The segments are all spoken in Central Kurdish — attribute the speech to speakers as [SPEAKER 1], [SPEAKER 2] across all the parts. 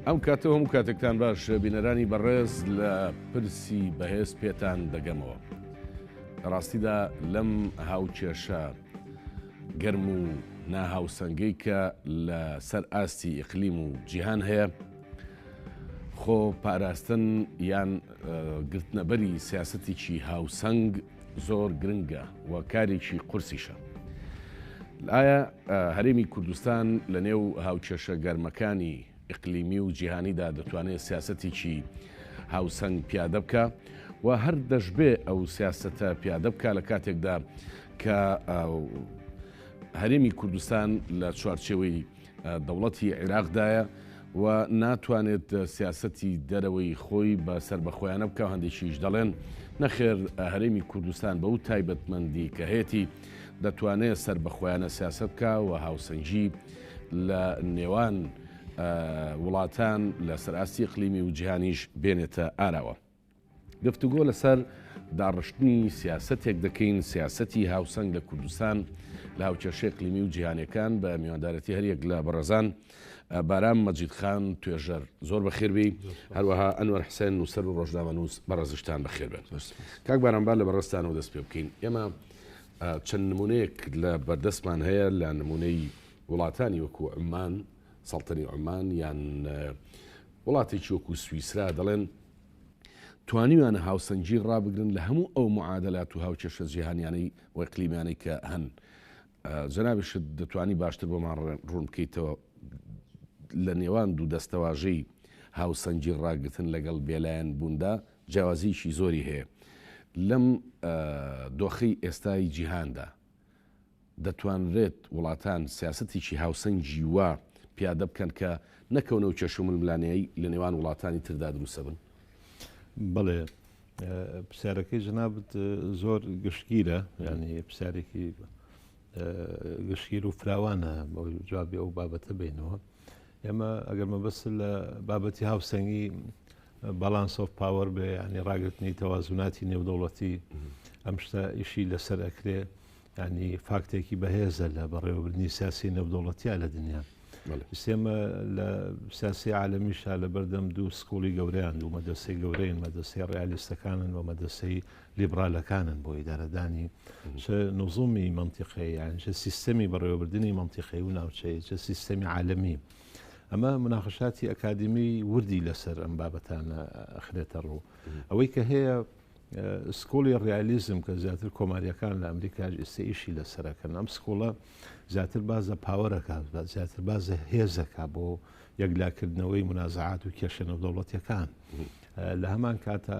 [SPEAKER 1] ئەم کاتە هەموو کاتێکتان باش بینەرانی بەڕێز لە پرسی بەهێز پێتان دەگەمەوە ڕاستیدا لەم هاوکێشە گەرم و ناهاوسەنگەی کە لە سەر ئاستی ئیقلیم و جیهان هەیە، خۆ پاراستن یان گرتنەبەری سیاسەتێکی هاوسەنگ زۆر گرنگە و کارێکی قورسیشە. ئایا هەرێمی کوردستان لە نێو هاوکێشە گەرمەکانی ئیقلیمی و جیهانیدا دەتوانێت سیاسەتێکی هاوسەنگ پیادە بکا و هەر دەشبێ ئەو سیاسەتە پیادە بکا لە کاتێکدا کە هەرێمی کوردستان لە چوارچێوەی دەوڵەتی عێراقدایە و ناتوانێت سیاسەتی دەرەوەی خۆی بە سەر بەخۆیانە بکە هەندێکیش دەڵێن نەخێر هەرێمی کوردستان بە و تایبەتمەندی کە هەیەی دەتوانێت سەر بەخۆیانە سیاست بکە و هاوسەنگی لە نێوان وڵاتان لە سەراستی قلیمی و جیهانیش بێنێتە ئاراوە. گفتوگۆ لەسەر داڕشتنی سیاستێک دەکەین سیاستی هاوسەنگ لە کوردستان لە هاوکێشەی قلیمی و جیهانەکان بە میواندارەتی هەریەک لە بەڕێزان بارام مەجید خان توێژەر زۆر بەخێربی هەروەها ئەنوەر حسێن نووسەر و ڕۆژنامە نووس بەڕێزشتان بەخێربێت کاک بارانبار لە بەڕستانەوە دەست پێ بکەین ئێمە چەند نمونەیەک لە بەردەستمان هەیە لە نمونەی وڵاتانی وەکو عمان سەڵتەنی عمان یان وڵاتێکی وەکو سوئیسرا دەڵێن توانیویانە هاوسەنگی ڕابگرن لە هەموو ئەو معادلات و هاوکێشە جیهانیانەی وەقلیمانەی کە هەن جەنابشت دەتوانی باشتر بۆمان ڕوون بکەیتەوە لە نێوان دوو دەستەواژەی هاوسەنگی ڕاگرتن لەگەڵ بێلایەن بووندا جیاوازییەکی زۆری هەیە لەم دۆخەی ئێستای جیهاندا. دەتوانرێت وڵاتان سیاسەتێکی هاوسەنگی وا پیادە بکەن کە نەکەونەو کێشە و ململانێی لە نێوان وڵاتانی تردا دروستە بن؟ بەڵێ
[SPEAKER 2] پرسیارەکەی جنابت زۆر گشتگیرە ینی پرسیارێکی گشتگیر و فراوانە جوابی ئەو بابەتە بینەوە. ئێمە ئەگەر مەبەست لە بابەتی هاوسەنگی باڵانس ئۆف پاوەر بێ ینی ڕاگرتنی تەوازوناتی نێودەوڵەتی ئەم شتە ئیشی لەسەر ئەکرێ ینی فاکتێکی بەهێزە لە بەڕێوەبردننی سیاسی نەودەوڵەتیا لە دنیا سێمە لە سیاسی عالمیشا لە بەردەم دوو سکوڵی گەورەیان دوو مەدەسەی گەورەین مەدەسەی ڕیالیستەکانن و مەدەسەی لیبڕالەکانن بۆ ئیدارەدانی چ نزومی مەنتیقەیی یان چ سیستەمی بەڕێوەبردنی مەنتیقەی و ناوچەیە چ سیستەمی عالەمی ئەمە مناقشاتی ئەکادمی وردی لەسەر ئەم بابەتانە ئەخرێتە ڕوو ئەوەی کە هەیە سکۆڵی ڕیالیزم کە زیاتر کۆماریەکان لە ئەمریکاش ئێستا ئیشی لەسەرەکەن ئەم سکۆڵە زیاتر باز لە پاوەرەکە زیاتر باز لە هێزەکە بۆ یەکلاکردنەوەی منازعات و کێشە نەودەوڵەتەکان لە هەمان کاتە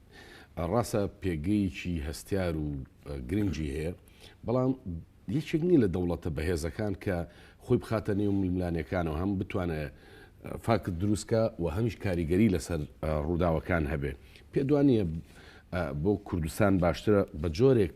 [SPEAKER 1] ڕاستە پێگەیەکی هەستیار و گرنگی هەیە، بەڵام یەکێک نییە لە دەوڵەتە بەهێزەکان کە خۆی بخاتە نێو ململانێکانەوە هەم بتوانێت فاکت دروستکە و هەمیش کاریگەری لەسەر ڕووداوەکان هەبێ پێدوانە بۆ کوردستان باشترە بە جۆرێک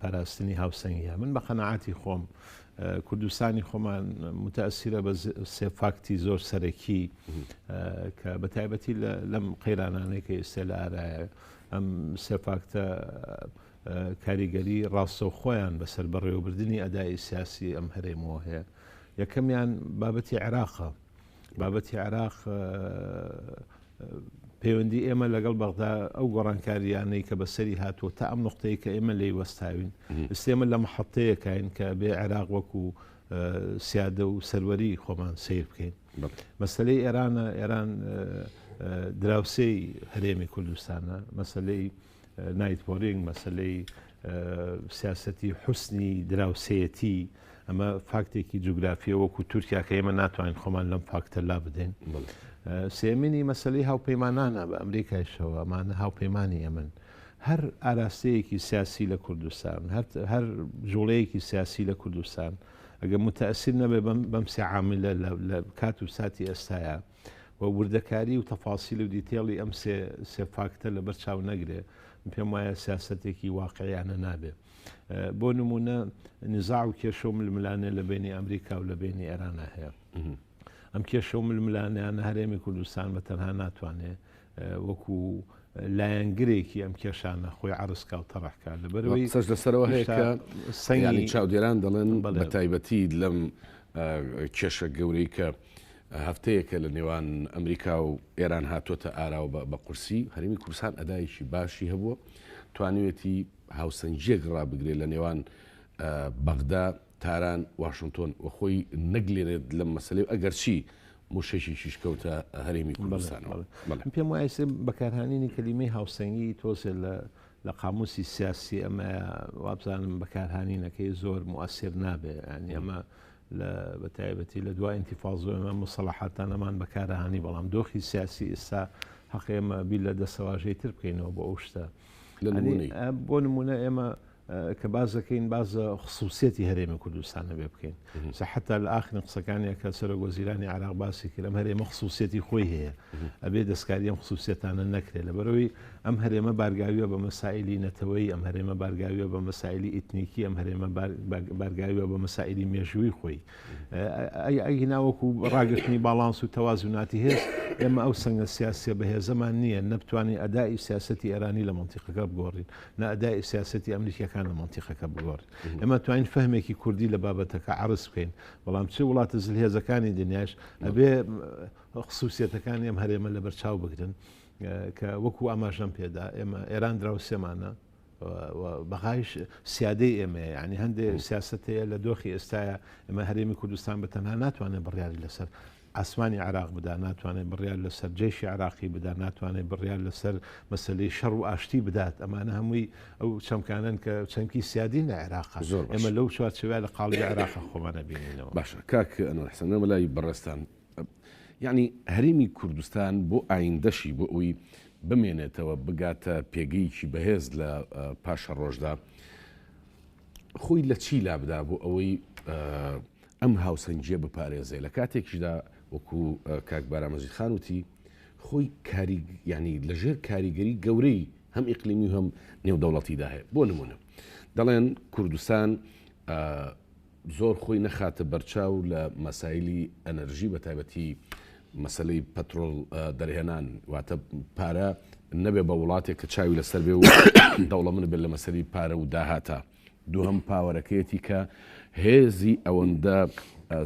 [SPEAKER 2] پاراستنی هاوسەنگیە من بە قەنەعاتی خۆم کوردستانی خۆمان متەسیرە بە سێ فاکتی زۆر سەرەکی کە بە تایبەتی لەم قەیرانانەی کە ئێستا لە ئارایە ئەم سێ فاکتە کاریگەری ڕاستە و خۆیان بەسەر بەڕێوەبردننی ئەدای سیاسی ئەم هەرێمەوە هەیە یەکەمیان بابەتی عێراقە بابەتی عێراق پەیوەندی ئێمە لەگەڵ بەغدا ئەو گۆڕانکاریانەی کە بەسەری هاتووە تا ئەم نقطەیە کە ئێمە لی وەستاوین ئستێمە لە مححتەیەکین کە بێ عێراق وەکو سیادە و سەروەری خۆمان سیر بکەین مەسلەی ئێرانە ئێران دراوسێی هەرێمی کوردستانە مەسلەی نایت پۆرینگ مەسەلەی سیاسەتی حوسنی دراوسەتی ئەمە فاکتێکی جوگرافیە وەکو تورکیا کە ئێمە ناتوانین خۆمان لەم فاکتە لا بدەین سێمینی مەسلەی هاوپەیمانانە بە ئەمریکایشەوە ئەمانە هاوپەیمانی ئەمن هەر ئاراستەیەکی سیاسی لە کوردستان هەر جوڵەیەکی سیاسی لە کوردستان ئەگە متەسیر نەبێ بەم سیعااملە لە کات و ساتی ئێستاە و وردەکاری و تەفاسیل و دیتێڵی ئەم سێ سێ فاکتە لەبەر چاو نەگرێ پێم وایە سیاسەتێکی واقعیانە نابێ بۆ نمونە نزاع و کێشە و ململانێ لە بینی ئەمریکا و لە بینی ئێرانە هەیە ئەم کێشە و ململانیان هەرێمی کوردستان بە تەنها ناتوانێ وەکو لایەنگرێکی ئەم کێشانە خۆی عرسکا و تەڕحکە لە بەرەوەی سەر لەسەرەوە هەیە
[SPEAKER 1] سەنگانی چاودێران دەڵێن بە تایبەتی لەم کێشە گەورەی کە هەفتەیەکە لە نێوان ئەمریکا و ئێران هاتووەتە ئارا و بە قورسی هەرێمی کوردستان ئەدایەکی باشی هەبووە، توانیوێتی هاوسەنگییەک ڕابگرێت لە نێوان بەغدا، تاران، واشنتۆن و خۆی نەگلێنێت لەم مەسەلەی و ئەگەرچی موشەکێکیش کەوتە هەرێمی کوردستانەوە. من پێم وایە ئێستا
[SPEAKER 2] بەکارهانینی کەلیمەی هاوسەنگی تۆزێ لە لە قاموسی سیاسی ئەمە وابزانم بەکارهانینەکەی زۆر موئەسیر نابێ یانی ئەمە لە بە تایبەتی لە دوای ئینتیفاضۆ ئێمە موسەڵەحاتانەمان بەکارهانی بەڵام دۆخی سیاسی ئێستا حەقی ئێمە بیر لە دەسەواژەی تر بکەینەوە بۆ ئەو شتە بۆ نمونە ئێمە کە باز دەکەین بازە خصوصیەتی هەرێمی کوردستانە بێ بکەین سەحتا لە ئاخرین قسەکانی کە سەرۆک وەزیرانی عراق باسی کرم هەرێمە خصوصیەتی خۆی هەیە ئەبێ دەستکاری ئەم خصوصیەتانە نەکرێت لە بەرەوەی ئەم هەرێمە بارگاویە بە مەسایلی نەتەوەیی، ئەم هەرێمە بارگاویە بە مەسایلی ئیتنیکی، ئەم هەرێمە بارگاویە بە مەسایلی مێژووی خۆی. ئەگینا وەکو ڕاگرتنی باڵانس و تەوازوناتی هێز، ئێمە ئەو سەنگە سیاسیە بەهێزەمان نیە، نە بتوانین ئەدائی سیاسەتی ئێرانی لە مەنتیقەکە بگۆڕین، نە ئەدائی سیاسەتی ئەمریکیەکان لە مەنتیقەکە بگۆڕین. ئێمە توانین فەهمێکی کوردی لە بابەتەکە عەرز بکەین، بەڵام چ وڵاتە زلهێزەکانی دنیاش ئەبێ خسوسیەتەکانی ئەم هەرێمە لەبەرچاو بگرن. کە وەکو ئاماژەم پێدا ئێمە ئێران دراوسێمانە بەغایش سیادەی ئێمە ینی هەندێک سیاستەیە لە دۆخی ئێستاە ئەمە هەرێمی کوردستان بە تەنها ناتوانێت بڕیاری لەسەر ئاسمانی عراق بدا ناتوانێت بڕیار لەسەر جێشی عراقی بدا ناتوانێت بڕیار لەسەر مەسلەی شەڕ و ئاشتی بدات ئەمانە هەمووی ئەو چەمکانن کە چەمکی سیادین لە عێراق زۆر ئەمە لەو چوارچوە لە قاڵی عێراق خۆمانە بینینەوە باشە کاک
[SPEAKER 1] ئەنەحسەنەوە لای بەڕێستان یەعنی هەرێمی کوردستان بۆ ئایندەشی بۆ ئەوی بمێنێتەوە بگاتە پێگەیەکی بەهێز لە پاشە ڕۆژدا خۆی لە چی لابدا بۆ ئەوەی ئەم هاوسەنجە بپارێزێ لە کاتێکیشدا وەکو کاک بارامەزی خانوتی خۆی کاری ینی لەژێر کاریگەری گەورەی هەم ئیقلیمی هەم نێودەوڵەتیدا هەیە بۆ نمونە دەڵێن کوردستان زۆر خۆی نەخاتە بەرچاو لە مەسایلی ئەنەرژی بە تایبەتی مەسلەی پەترۆل دەرهێنان واتە پارە نەبێ بە وڵاتێک کە چاوی لەسەر بێ و دەوڵە من بێت لە مەسەری پارە و داهاتە دووهم پاوەرەکەیەتی کە هێزی ئەوەندە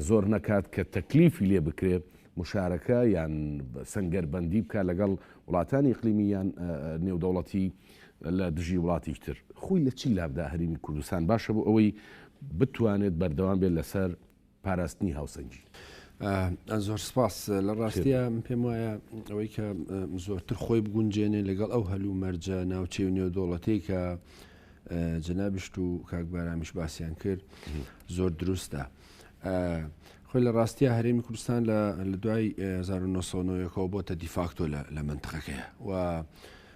[SPEAKER 1] زۆر نەکات کە تەکلیفی لێ بکرێ مشارەکە یان سنگەربندی بکە لەگەڵ وڵاتانی قلیمیان نێودەوڵەتی لە دژی وڵاتیک تر خۆی لە چی لابدا هەرێمی کوردستان باشە بۆ ئەوەی بتوانێت بەردەوام بێت لەسەر پاراستنی هاوسەنگی.
[SPEAKER 3] زۆر سپاس لە ڕاستە پێم وایە ئەوەی کە زۆرتر خۆی بگونجێنێ لەگەڵ ئەو هەلو مەرجە ناوچەی و نێودۆڵەتەی کە جەنابشت و کاکبارامیش باسییان کرد زۆر دروستە. خۆی لە ڕاستە هەرێمی کوردستان لە دوای 1990ەوە بۆتە دیفاکتۆ لە منتقەکەیە و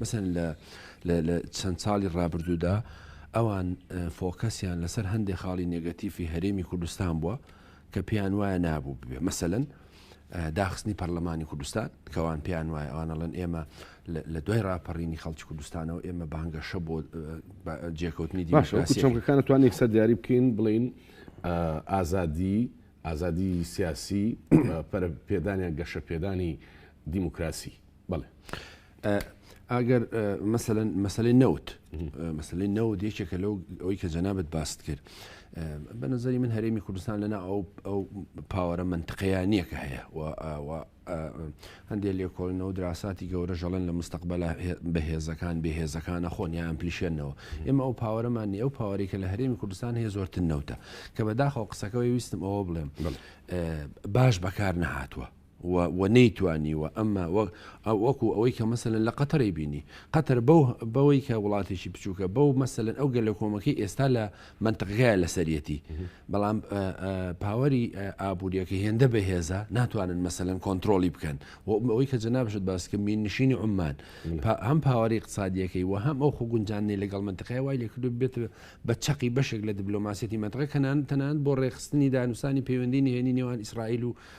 [SPEAKER 3] مەسەلەن لە لە لە چەند ساڵی ڕابردوودا ئەوان فۆکەسیان لەسەر هەندێ خاڵی نێگەتیفی هەرێمی کوردستان بووە کە پێیان وایە نابوو ببێ مەسەلەن داخستنی پەرلەمانی کوردستان کەوان پێیان وایە ئەوانەڵەن ئێمە لە دوای راپەڕینی خەڵکی کوردستانەوە ئێمە بانگەشە بۆ جێکەوتنی دیموکراسیەکان
[SPEAKER 1] توان یەکسەر دیاری بکەین بڵین ئازادی ئازادی سیاسی پەرە پێدانیان گەشە پێدانی دیموکراسی بڵێ
[SPEAKER 3] ئەگەر مەسەن مەسلەی نەوت مەسلەی نەوت یەکێکە لەو ئەوی کە جەنابەت باست کرد بە نظری من هەرێمی کوردستان لەنا ئەو ئەو پاوەرە منتقیانە کە هەیە هەندێک لێکۆڵنەوە دراساتی گەورە ژەڵێن لە مستقبل بەهێزەکان بەهێزەکانە خۆنیان پلیشێنەوە ئێمە ئەو پاوەرەمان ئەو پاوەێکە لە هەرێمی کوردستان هەیە زۆرتر نەوتە کە بەداخەوە قسەکەەوەی ویستم ئەوە بڵێم باش بەکار نەهاتووە و و نەیتوانیوە ئەم ماوە ئەو وەکو ئەوەی کە مەسەلەن لە قەتەرەی بینی قەتەر بەو بەوەی کە وڵاتێکی بچووکە بەو مەسەلەن ئەو گەل لە کۆمەکەی ئێستا لە منتقگای لەسەرەتی بەڵام پاوەری ئابوووریەکە هێندە بەهێزە ناتوانن مەسەلەن کۆنتترۆلی بکەن و ئەوەی کە جەنابشت باسکە مین نشینی عمان هەم پاوەری اقتصادیەکەی و هەم ئەو خۆ گونجاننی لەگەڵ منتقای وای لەکرد بێت بە چەقی بەشێک لە دیبلۆماسیەتی منتقە کەنان تەنان بۆ ڕێخستنی دانوسانی پەیوەندی نهێنی نێوان ئیسرائیل و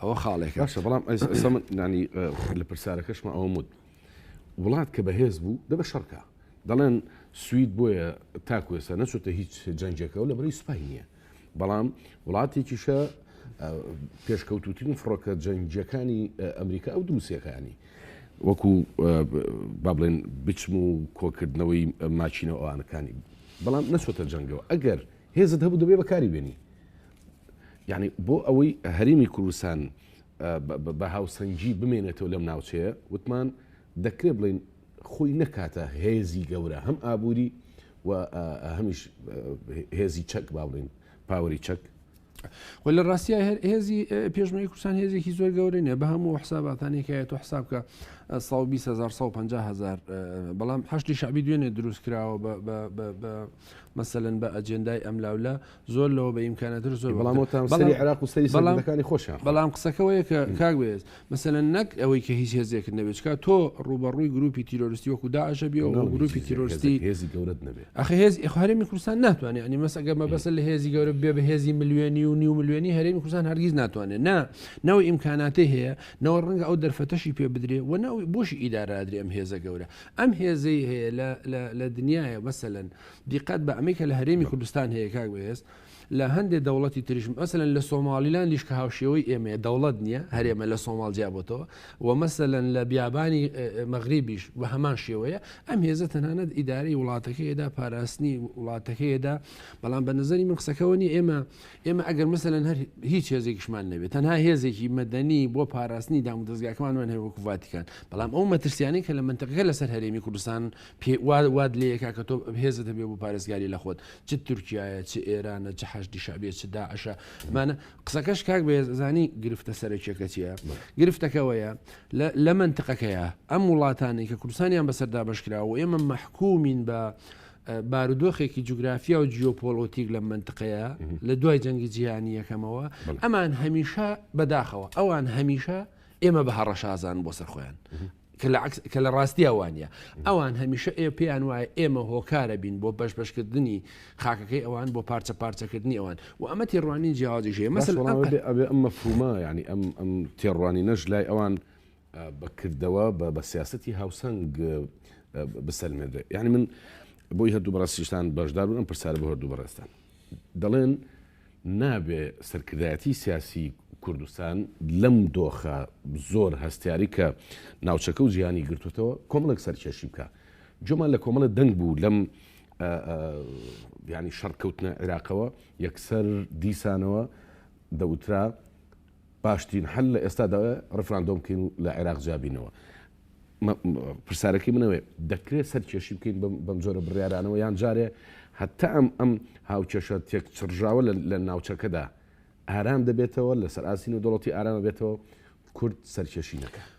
[SPEAKER 3] ئەوە خاڵێکە باشە بەڵام ئەسە من
[SPEAKER 1] نانی لە پرسیارەکەشمە ئەوە مد وڵات کە بەهێز بوو دەبە شەڕکە دەڵێن سوید بۆیە تاکوێسە نەچێتە هیچ جەنجەکە و لە بەری سوپای نییە بەڵام وڵاتێکیشە پێشکەوتوترین فڕۆکە جەنجەکانی ئەمریکا ئەو دروستەکانی وەکو با بڵێن بچم و کۆکردنەوەی ماچینەوە ئەوانەکانی بەڵام نەچۆتە جەنگەوە ئەگەر هێزت هەبوو دەبێ بەکاری بێنی یانی بۆ ئەوەی هەرێمی کوردستان بە هاوسەنگی بمێنێتەوە لەم ناوچەیە وتمان دەکرێت بڵین خۆی نەکاتە هێزی گەورە هەم ئابووری و هەمیش هێزی چەک با بڵین پاوەری چەک و لە
[SPEAKER 3] ڕاستە هەر هێزی پێشمەی کوردستان هێزێکی زۆر گەورە نیە بە هەموو حساباتانێکایە تۆ حساب کە 150 هزار بەڵام هەشتی شعبی دوێنێ دروست کراوە بە مەسەلەن بە ئەجێندای ئەملاوللا زۆر لەوە بە ئیمکانەتر زۆر بەڵام وەکتر. وتم سەری بەڵام- عێراق و
[SPEAKER 1] سەری بەڵام- سەرکردەکانی خۆشیان خۆ. بەڵام قسەکە وەیە کە
[SPEAKER 3] کاک بەێز مەسەلەن نەک ئەوەی کە هیچ هێزێکت نەبێت چکا تۆ ڕوبەڕووی گروپی تیرۆرستی وەکو داعشە بێ و ناو گروپی هیچ تیرۆرستی
[SPEAKER 1] هێزێک- هێزی گەورەت نەبێ ئەخ هێز هەرێمی
[SPEAKER 3] کوردستان ناتوانێت ئەنی مەسەگە مەبەسە لە هێزی گەورە بێ بە هێزی ملیۆنی و نیو ملیۆنی هەرێمی کوردستان هەرگیز ناتوانێت نا نەوە ئیمکاناتی هەیە نەوە ڕەنگە ئەو دەرفەتەشی پێ بدرێ و نەوەی بۆشی ئیدارادرێ ئەم هێزە گەورە ئەم هێزەی هەیە لە لە لە دنیایە مەسەلەن دیقەت بە ئەمەی کە لە هەرێمی کوردستان هەیە کاک بەهێز لە هەندێک دەوڵەتی تریش مەسەلەن لە سۆماڵیلاندیش کە هاوشێوەی ئێمەیە دەوڵەت نییە هەرێمە لە سۆماڵ جیابەتەوە و مەسەلەن لە بیابانی مەغریبیش بە هەمان شێوەیە ئەم هێزە تەنانەت ئیدارەی وڵاتەکەیدا پاراستنی وڵاتەکەیدا بەڵام بە نظری من قسەکەەوە نیە ئێمە ئێمە ئەگەر مەسەلەن هەر هیچ هێزێکیشمان نەبێت تەنها هێزێکی مەدەنی بۆ پاراستنی دام و دەستگاکەمانمان هەیە وەکو ڤاتیکان بەڵام ئەو مەترسیانی کە لە منتەقەکە لەسەر هەرێمی کوردستان پێ واد لەیەکا کە تۆ هێزت هەبێ بۆ پارێزگاری لە خۆت چ تورکایە چ ئێرانە چ حەشدی شعبێ چ داعشە مانە قسەکەش کاک بەێزانی گرفتە سەرەکیەکە چیە گرفتەکەوەیە لە منتقەکەیە ئەم وڵاتانی کە کوردستانیان بەسەردا بەشکراوە ئێمە مححکومین بە بارودۆخێکی جوگرافیا و جیۆپۆلۆتیک لەم منتقەیە لە دوای جەنگی جیهانی یەکەمەوە ئەمان هەمیشە بەداخەوە ئەوان هەمیشە ئێمە بە هەڕەشازان بۆ سەرخۆیان کە لە ڕاستیا وانە ئەوان هەمیشە ئێ پێیان وایە ئێمە هۆکارە بین بۆ بەش بەشکردنی خاکەکەی ئەوان بۆ پارچە پارچەکردنی ئەوان و ئەمە تێڕوانین جیاوازی ژێ مەسەڵ ئەم
[SPEAKER 1] مەفهومە ینی ئەم ئەم تێڕوانی نەش لای ئەوان بە کردەوە بە بە سیاسەتی هاوسەنگ بسەلمێنرێت یعنی من بۆی هەردوو بەڕاستیشتان بەشدار بوون پرسیار بۆ هەردوو بەڕێستان دەڵێن نابێ سەرکردایەتی سیاسی کوردستان لەم دۆخە زۆر هەستیاری کە ناوچەکە و جیهانی گرتوتەوە کۆمەڵک سەرکێشی بکە جۆمان لە کۆمەڵە دەنگ بوو لەم ینی شەڕکەوتنە عێراقەوە یەکسەر دیسانەوە دەوترا باشترین حل لە ئێستادا ئەوەیە ڕیفراندۆم بکەین و لە عێراق جیابینەوە. پرسیارەکەی من ئەوەیە، دەکرێت سەرکێشی بکەین بەم جۆرە بڕیارانەوە یان جارێ هەتا ئەم ئەم هاوکێشە تێکچڕژاوە لە ناوچەکەدا ئارام دەبێتەوە، لەسەر ئاستی نێودەوڵەتی ئارامە بێتەوە و کورد سەرکێشی نەکات؟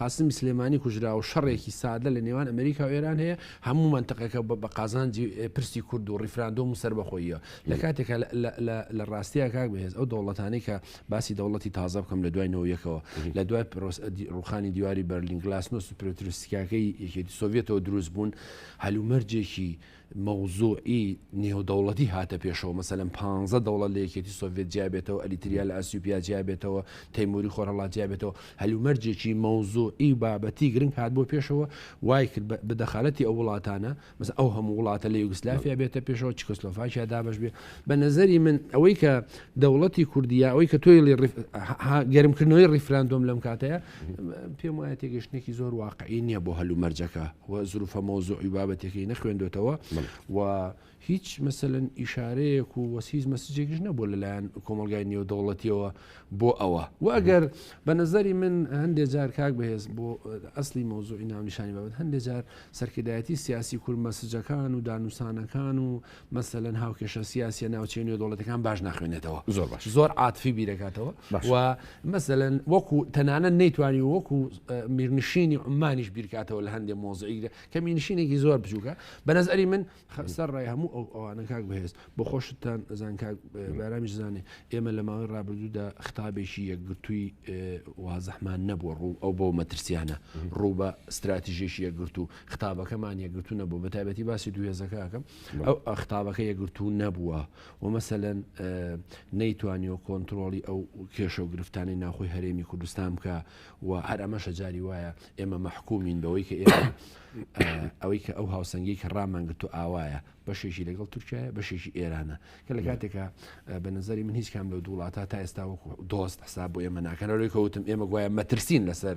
[SPEAKER 3] قاسمی سلێمانی کوژراوە و شەڕێکی سادە لە نێوان ئەمریکا و ئێران هەیە، هەموو مەنتقەکە بە قازانجی پرسی کورد و ڕیفراندۆم و سەربەخۆییە. لە کاتێکا لە ڕاستیا کاک بەهێز ئەو دەوڵەتانەی کە باسی دەوڵەتی تازە بکەم لە دوای نەوەی یەکەوە لە دوای ڕووخانی دیواری بەرلین گلاسنۆست و پرۆتروسکیاکەی یەکێتی سۆڤیەتەوە دروست بوون هەلومەرجێکی مەوزوعی نێودەوڵەتی هاتە پێشەوە، مەسەلەن پانزە دەوڵەت لە یەکێتی سۆڤێت جیابێتەوە، ئەریتریا لە ئەسیوپیا جیابێتەوە، تەیموری خۆرهەڵات جیابێتەوە، هەلومەرجێکی مەوزوعی و بابەتی گرنگ هات بۆ پێشەوە، وایکرد بە بە دەخالەتی ئەو وڵاتانە، مەسەلەن ئەو هەموو وڵاتە لە یوگسلافیا بێتە پێشەوە، چکۆسلۆفاکیا دابەش بێ. بە نەزەری من ئەوەی کە دەوڵەتی کوردی یا ئەوەی کە تۆیڵی ڕیف ها گەرمکردنەوەی ڕیفراندۆم لەم کاتەیە، پێم وایە تێگەشتنێکی زۆر واقعی نییە بۆ هەل و مەرجەکە و زروفە مەوزوعی و بابەتەکەی نەخوێندۆتەوە و هیچ مەسەلەن ئیشارەیەک و وەسیز مەسجێکیش نەبوو لەلایەن کۆمەلگای نێودەوڵەتیەوە بۆ ئەوە وەگەر بە نظری من هەندێک جار کاک بەهێز بۆ ئەسلی مەوزوعی ناونیشانی بابەت هەندێک جار سەرکردایەتی سیاسی کورد مەسجەکان و دانوسانەکان و مەسەلەن هاوکێشە سیاسە ناوچەی نێودوڵەتەکان باش ناخوێنێتەوە زۆر باش زۆر عاتفی بیرەکاتەوە و مەسەلەن وەکو تەنانە نەیتوانی وەکو میرنشینی عمانیش بیرکاتەوە لە هەندێک مۆزعیگرە کە مینشینێکی زۆر بچووکە بە نەزەری من خەسەر ڕای هەموو ئەو ئەوانە کاک بەهێز بۆ خۆشتان زان کاک بارامیش زانێ ئێمە لە ماوەی ڕابردوودا خطابێکی یەکگرتووی وازەحمان نەبووە ڕوو ئەو بۆ مەترسیانە ڕوو بە استراتیژێکی یەکگرتو خطابەکەمان یەکگرتو نەبوو بە تایبەتی باسی دوو هێزەکەکەم ئەو ئەخطابەکە یەکگرتو نەبووە و مەسەەن نەیتوانیەوە کۆنتترۆلی ئەو کێشە و گرفتانی ناخۆی هەرێمی کوردستان بکە و هەر ئەمەشە جاری وایە ئێمە مەحکومین بەوەی کە ئێمە ئەوەی کە ئەو هاوسەنگی کە ڕامانگرتو ئاوایە بەشێکی لەگەڵ تورکیا بەشێکی ئێرانە کە لە کاتێکە بە نظری من هیچ کام لە دووڵاتە تا ئێستا وەکو دۆست حساب بۆ ئێمە ناکەنەوەی کەوتم ئێمە گوایە مەترسین لەسەر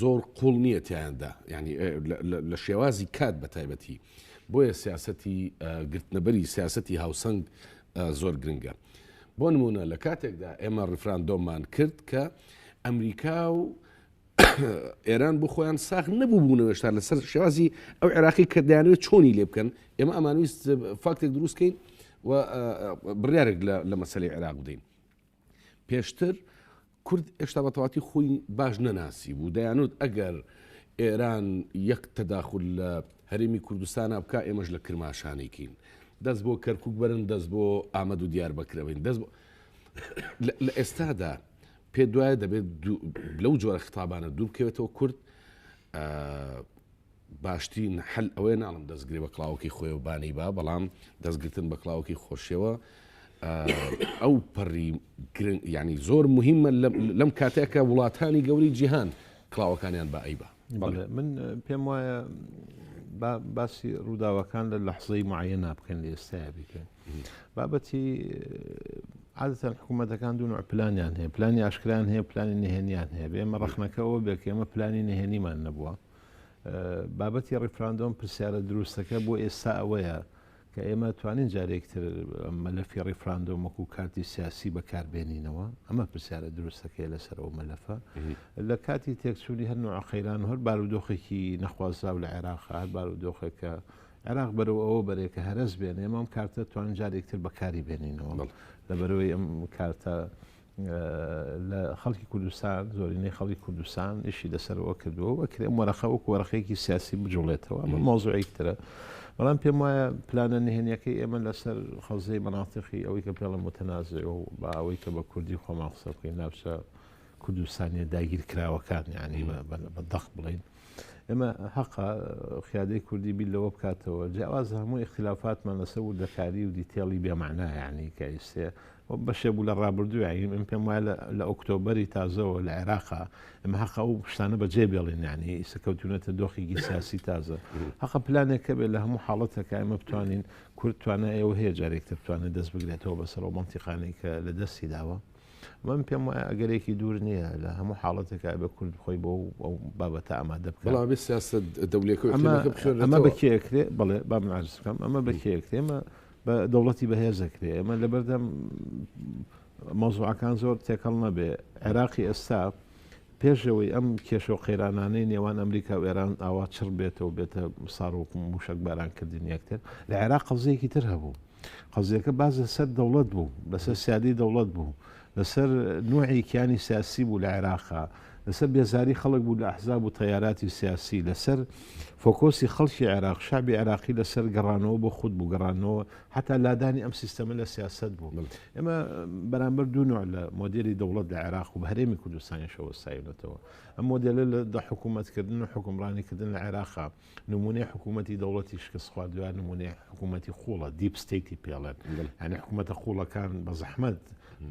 [SPEAKER 1] زۆر قوڵ نییە تیاندا ینی لە شێوازی کات بە تایبەتی بۆیە سیاستی گرتنەبەری سیاستی هاوسەنگ زۆر گرنگە بۆ نمونە لە کاتێکدا ئێمە ڕفراندۆمان کرد کە ئەمریکا و ئێران بۆ خۆیان ساخ نەبوو بوونەوەشتا لەسەر شێوازی ئەو عێراقی کردیانەوە چۆنی لێ بکەن ئێمە ئەمانویست فاکتێک دروستکەین و بڕارێک لە مەسلەی عێراق بدەین پێشتر کورد هێشتا بە تەواتی خۆی باش نەناسی بوو دەیانوت ئەگەر ئێران یەک تەداخول لە هەرێمی کوردستانا بکا ئێمەش لە کرماشانێکین دەست بۆ کەرکک بەرن دەست بۆ ئامەد و دیار بەکرەبین دەست بۆ لە ئێستادا پێ دوایە دەبێت لەو جۆرە خطابانە دوورکەوێتەوە کورد باشترین حل ئەوەیە ناڵم دەستگرێ بە کڵاوەکەی خۆیەوە بانەی با بەڵام دەستگرتن بە کڵاوەکەی خۆشیەوە ئەو پەڕی ینی زۆر مهمە لەم کاتێکە وڵاتانی گەوری جیهان کڵاوەکانیان بە ئەیبا من
[SPEAKER 2] پێم وایە باسی ڕووداوەکان لە لەحزەی معە نابکەن لە ئێستایا بکەن بابەتی عادەتەن حکوومەتەکان دوو پلانیان هەیە پلانی ئاشکران هەیە پلانی نهێنیان هەیە بێمە ڕخنەکەەوە بێکێمە پلانی نهێنیمان نەبووە بابەتی ڕیفراندۆم پرسیارە دروستەکە بۆ ئێستا ئەوەیە کە ئێمە توانین جارێکتر مەلەفی ڕیفراندۆم وەکو کارتی سیاسی بەکاربێنینەوە ئەمە پرسیارە دروستەکەی لەسەر ئەو مەلەفە لە کاتی تێکچوونی هەر نوع قەیران هەر بارودۆخێکی نەخوازراو لە عێراق هەر بارودۆخێکە عێراق بەرەوە ئەوە بەرێکە هەرس بێنێ ئەم کارتە توان جارێکتر بەکاری بێنینەوە لە بەرەوەی ئەم کارتە لە خەڵکی کوردستان زۆرینەی خەڵکی کوردستان ئیشی لەسەرەوە کردووە و ئەکرێ ئەم وەرەقە وەکو وەرەقەیەکی سیاسی بجوڵێتەوە ئەمە مەوزوعێکی ترە بەڵام پێم وایە پلانە نهێنیەکەی ئێمە لەسەر خەزەی مەناتقی ئەوەی کە پێڵە متەنازێ و بە ئەوەی کە بە کوردی خۆمان قسە بکەین ناوچە کوردستانیە داگیر کراوەکان یعنی بە دەق بڵین ئێمە هەقە خیادەی کوردی بیر لەوە بکاتەوە جیاواز هەموو اختلافاتمان لەسەر وردەکاری و دیتێڵی بێمانایانی کە ئیسێ بەشێ بوو لە ڕابردووین من پێم وایە لە ئۆکتۆبری تازەوە لە عێراقا ئەمە هەقە و شتانە بە جێ بێڵینانی ئیسە کەوتونەتە دۆخێکی سیاسی تازە هەقە پلانێکە بێت لە هەموو حاڵەتەکە ئەمە بتوانین کورتوانە ئێوە هەیە جارێکتر بتوانێت دەست بگرێتەوە بەسەر و منتیقانی کە لە دەستی داوە. من پێم وایە ئەگەرێکی دوور نییە لە هەموو حاڵەتێکا بە کورد خۆی بۆ ئەو بابەتە ئامادە بکە بەڵامی سیاست
[SPEAKER 1] دەولێکە ئەمە
[SPEAKER 2] بەکێکرێ بڵێ با منعزکەم ئەمە بەکێکرێ ئمە بە دەوڵەتی بەهێزەکرێ ئەمە لە بەردەم مەزوعەکان زۆر تێکەڵ نەبێ عێراقی ئێستا پێشەوەی ئەم کێشە و قەیرانانەی نێوان ئەمریکا و ئێران ئاوا چڕ بێتەوە بێتە ساڕ و موشک بارانکردن یەکتر لە عێراق قەزەیەکی تر هەبوو قەزیەکە باس لەسەر دەوڵەت بوو، لەسەر سیادەی دەوڵەت بوو، لەسەر نوعی کیانی سیاسی بوو لە عێراقا، لەسەر بێزاری خەڵک بوو لە ئەحزاب و تەیاراتی سیاسی، لەسەر فۆکۆسی خەڵکی عێراق، شەعبی عێراقی لەسەر گەڕانەوە بۆ خود بوو، گەڕانەوە حەتا لادانی ئەم سیستەمە لە سیاسەت بوو. ئێمە بەرامبەر دوو نوع لە مۆدێلی دەوڵەت لە عێراق و بە هەرێمی کوردستانیشەوە سایونەتەوە. ئەم مۆدێلە لە حکوومەتکردن و حکومڕانیکردن لە عێراقا. نمونەی حکوومەتی دەوڵەتی شکست خواردووە نمونەی حکوومەتی قوڵە دیپ ستیتی پێڵێت ئەنی حکوومەتە قوڵەکان بە زەحمەت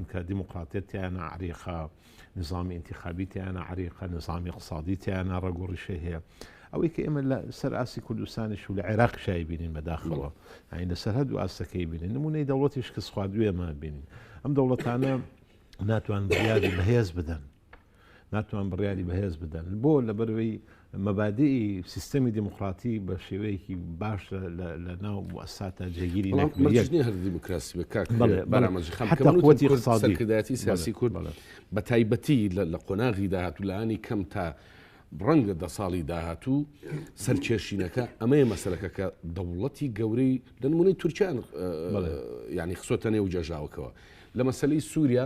[SPEAKER 2] کە دیموکراتێتیانە عریقا نظامی انتخابیتیانە عریقا نظامی قسادیتیانە ڕگۆڕیشە هەیە ئەوەی کە ئێمە لە سەر ئاسی کوردستانیش و لە عێراق شای بینین بەداخەوە ئاین لە سەرهد و ئاستەکەی بینین نمونەی دەوڵەتی شکست خواردوێمان بینین ئەم دەوڵەتانە ناتوان بریادی بەهێز بدەن ناتوان بڕیاری بەهێز بدەن بۆ لەبەروی مەبادی سیستەمی دیموکراتی بە شێوەیەکی باش لە ناو ئەساتە جێگیری
[SPEAKER 1] دیموکراسی بەکاتمەجیخەکردایەتی سیاسی کورد بە تایبەتی لە قۆناغی داهاتوو لانی کەم تا ڕەنگە دە ساڵی داهاتوو سەرکێشینەکە ئەمەیە مەسلەکە کە دەوڵەتی گەورەی لەنمونەی تورکیان ینی خسۆتە نێو جەژاوکەوە لە مەسلەی سووریا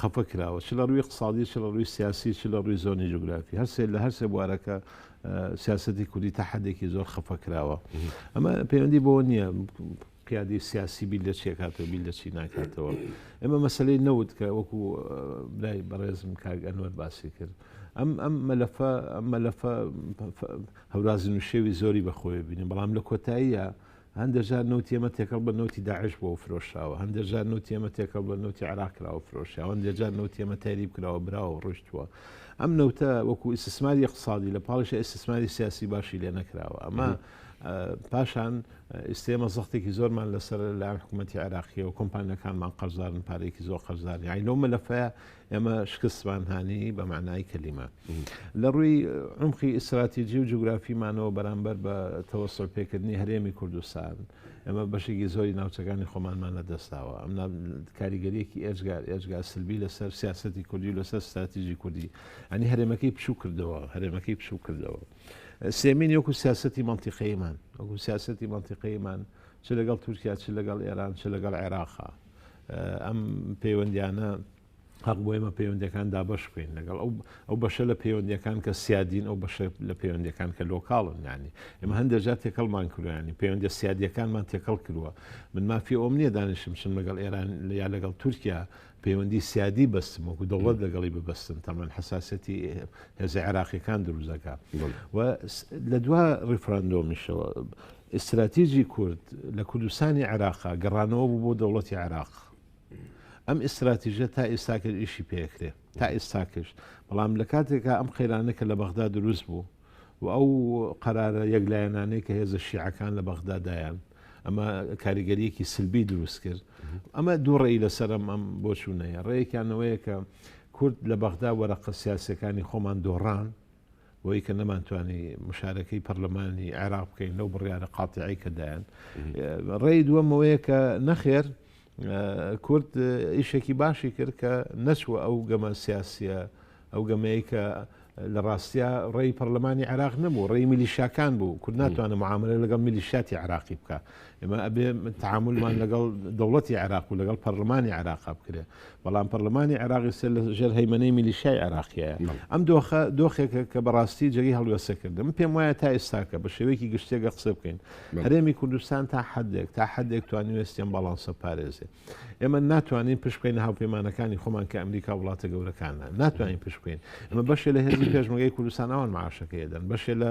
[SPEAKER 2] خەفە کراوە چ لە ڕووی اقتصادی چ لە ڕووی سیاسی چ لە ڕووی زۆنی جوگرافی هەرسێ لە هەرسێ بوارەکە سیاستی کوردی تا حدێکی زۆر خەفە کراوە ئەمە پەیوەندی بۆ نییە قیادی سیاسی بیل لە چێکاتەوە بیل لە چی ناکاتەوە ئێمە مەسلەی نەوت کە وەکو برای بەڕێزم کاگەنوەر باسی کرد ئەم ئەم مەلەفە ئەم مەلەفە هەورازی نوشێوی زۆری بەخۆی بینیم بەڵام لە کۆتاییە هەندێک جار نەوتی ئێمە تێکەڵ بە نەوتی داعش بۆ فرۆشاوە هەندێک جار نەوتی ئێمە تێکەڵ بە نەوتی عراق کراوە فرۆشیاوە هەندێک جار نەوتی ئێمە تەریب کراوە براوە ڕۆشتووە ئەم نەوتە وەکو ئیسسماری اقتصادی لە پاڵش ئیسسماری سیاسی باشی لێ نەکراوە ئەمە پاشان ئیسێمە زەختێکی زۆرمان لەسەر لەلاەن حکوومەتتی عراقیەوە کۆمپانیەکانمان قەرزارن پارێکی زۆر قەرزاری ئاینەوە مەلەفەیە ئێمە شکستمان هانی بە معنای کەلیمە لە ڕووی عمقی ئیسراتیجی و جوگرافیمانەوە بەرامبەر بە تەوەسەر پێکردنی هەرێمی کوردستان ئەمە بەشێکی زۆری ناوچەکانی خۆمانمان لە دەستاوە ئەم کاریگەریەکی ئێجگار ئێجگا سلبی لەسەر سیاستی کوردی و لەسەر استراتیژی کوردی ئەنی هەرێمەکەی بچوو کردەوە هەرێمەکەی بچوو کردەوە سێمین یۆکو سیاستی منتیقەیمان وەکو سیاستی منتیقەیمان چ لەگەڵ تورکیا چ لەگەڵ ئێران چ لەگەڵ عێراقا ئەم پەیوەندیانە هەق بۆ ئێمە پەیوەندەکان دابش بکەین لەگەڵ ئەو ئەو بەشە لە پەیوەندەکان کە سیادین ئەو بەشە لە پەیوەندەکان کە لۆکاڵن نانی ئێمە هەندێکجار تێکەڵمان کروانی پەیوەندە سیادیەکانمان تێکەڵ کردووە من مافی ئەوم نییە دانیشم چم لەگەڵ ئێران یا لەگەڵ تورکیا پەیوەندی سیادی بەستم وەکو دەوڵەت لەگەڵی ببستن تەمان حساسەتی هێزە عێراقیەکان دروزەکە و لە دوا ڕیفراندۆمیشەوە ئیستراتیجی کورد لە کوردستانی عێراقا گەڕانەوە بوو بۆ دەوڵەتی عێراق. ئەم ئیستراتیژە تا ئێستاکەش ئیشی پێکرێ تا ئێستاکەش بەڵام لە کاتێکا ئەم قەیرانە کە لە بەغدا دروست بوو و ئەو قەرارە یەکلایەنانەی کە هێزە شیعەکان لە بەغدادایان ئەمە کاریگەریەکی سلبی دروست کرد ئەمە دوو ڕێی لەسەرم ئەم بۆچوونەیە ڕێیەکیانەوەیە کە کورد لە بەغدا وەرەقە سیاسەکانی خۆمان دۆڕان بۆیە کە نەمانتوانی مشارەکەی پەرلەمانی عێراق بکەین لەو بڕیارە قاتیعی کە دایان ڕێی دووەمەوەیە کە نەخێر کورد ئیشێکی باشی کرد کە نەچوە ئەو گەمە سیاسیە ئەو گەمەیە کە لە ڕاستە ڕێی پەرلەمانی عراق نەبوو ڕێی میلیشاکان بوو کورد ناتوانە معاملە لەگەڵ میلیشاتی عراقی بکە ئێمە ئەبێ تعاملمان لەگەڵ دەوڵەتی عراق و لەگەڵ پەرلەمانی عراق بکرێ بەڵام پەڕلەمانی عێراقی سەر لە ژێر هەیمەنەی میلیشیای عێراقییە. ئەم دۆخە دۆخێکە کە بەڕاستی جێگەی هەڵوێستە کردن. من پێم وایە تا ئێستاکە بە شێوەیەکی گشتی گەر قسە بکەین، هەرێمی کوردستان تا حەدێک تا حەدێک توانیوێستی ئەم باڵانسە بپارێزێ. ئێمە ناتوانین پشت بکەینە هاوپەیمانەکانی خۆمان کە ئەمریکا و وڵاتە گەورەکانە. ناتوانین پشت بکەین. ئەمە بەشێ لە هێزی پێشمەرگەی کوردستان ئەوان معاشەکەی دەدەن. بەشێ لە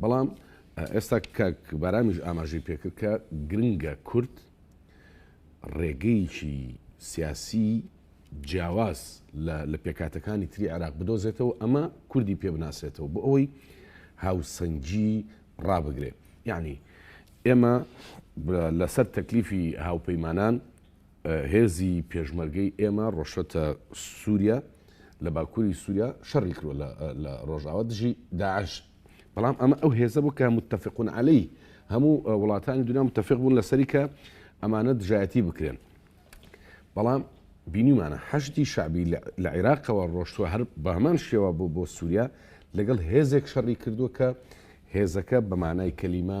[SPEAKER 1] بەڵام ئێستا کاک بارامیش ئاماژەی پێکرد کە گرنگە کورد ڕێگەیەکی سیاسی جیاواز لە پێکاتەکانی تری عراق بدۆزێتەوە ئەمە کوردی پێ بناسێتەوە بۆ ئەوەی هاوسەنگی ڕابگرێ یعنی ئێمە لەسەر تەکلیفی هاوپەیمانان هێزی پێشمەرگەی ئێمە ڕۆشتە سووریا لە باکووری سووریا شەڕی کرۆ لە ڕۆژاوە دژی داعش بەڵام ئەمە ئەو هێزە بوو کە متتەفقون عەلی هەموو وڵاتانی دنیا متتەفق بوون لەسەری کە ئەمانە دژایەتی بکرێن بەڵام بینیمانە حەشتی شعبی لە عێراقەوە ڕۆشتوە هەر بە هەمان شێوە بۆ بۆ سووریا لەگەڵ هێزێک شەڕی کردووە کە هێزەکە بەمانای کەلیمە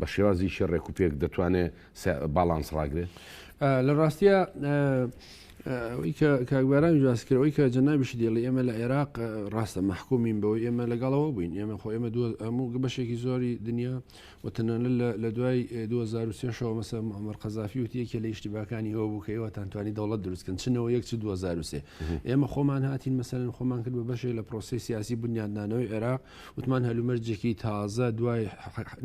[SPEAKER 1] بە شێوازیکی ڕێک و پێک دەتوانێت باڵانس ڕاگرێت لە ڕاستە
[SPEAKER 3] کاگوارانی جواسکرەوەی کە جەنابیش دێڵی ئێمە لە عێراق ڕاستە محکومین بەوە ئێمە لەگەڵەوە بووین ئێمە خۆ ئێمە دو ئەموو بەشێکی زۆری دنیا وتەنانە لە دوای 2023ەوە مەسە ئەمەر قەزافی وتی یەکێ لە یشتیباکانی هەوە بوو کە ئێوەتانتوانی دەوڵەت دروستکەن چنەوە یەک 2023 ئێمە خۆمان هاتین مەسەرن خۆمان کرد بە بەشێک لە پرۆسی سیاسی بنیادنانەوەی عێراق وتمان هەلومەرجێکی تازە دوای